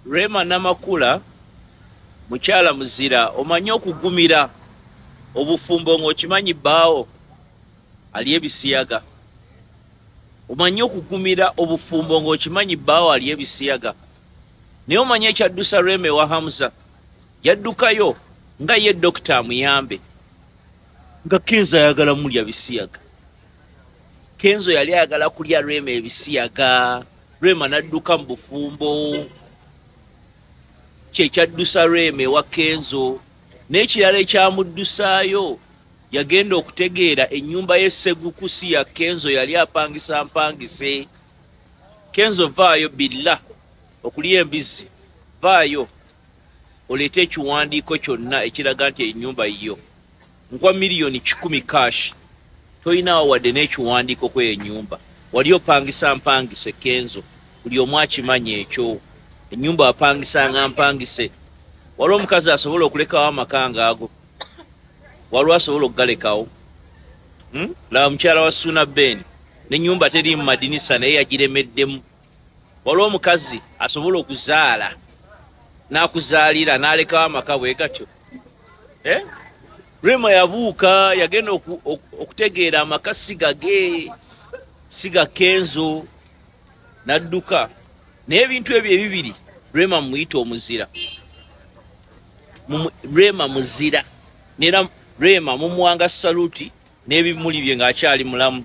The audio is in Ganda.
Rema Namakula mukyala muzira omanyi okugumira obufumbo ng'okimanyi bbaawo ali ebisiyaga omanyi okugumira obufumbo ng'okimanyi bbaawo ali ebisiyaga naye omanyi ekyaddusa Rema ewa Hamza yaddukayo nga ye dokita amuyambe nga kenzo ayagala mulya bisiyaga kenzo yali ayagala kulya Rema ebisiyaga rema nadduka mu bufumbo kyekyaddusa rema ewa kenzo n'ekirala ekyamuddusaayo yagenda okutegeera ennyumba y'esseguku si ya kenzo yali apangisa mpangise kenzo vaayo billa okulya embizzi vaayo oleete ekiwandiiko kyonna ekiraga nti ennyumba yiyo nkuwa miliyoni kikumi cash toyinaawo wadde n'ekiwandiiko kweyo enyumba wali opangisa mpangise kenzo buli omu akimanya ekyo enyumba wapangisanga mpangise wali omukazi asobola okulekawo amaka ngaago waliwo asobola okugalekawo hmm? laba mukyala wa suuna ben nenyumba teriimu madinisa naye yagiremeddemu waliwo omukazi asobola okuzaala nakuzaalira nalekawo amaka bwe gatyo eh? rema yabuuka yagenda okutegeera amaka sigage siga kenzo nadduka naye ebintu ebyo ebibiri rema mumuyita omuzira rema muzira nera rema mumuwanga saluti n'ebimuli bye ng'akyali mulamu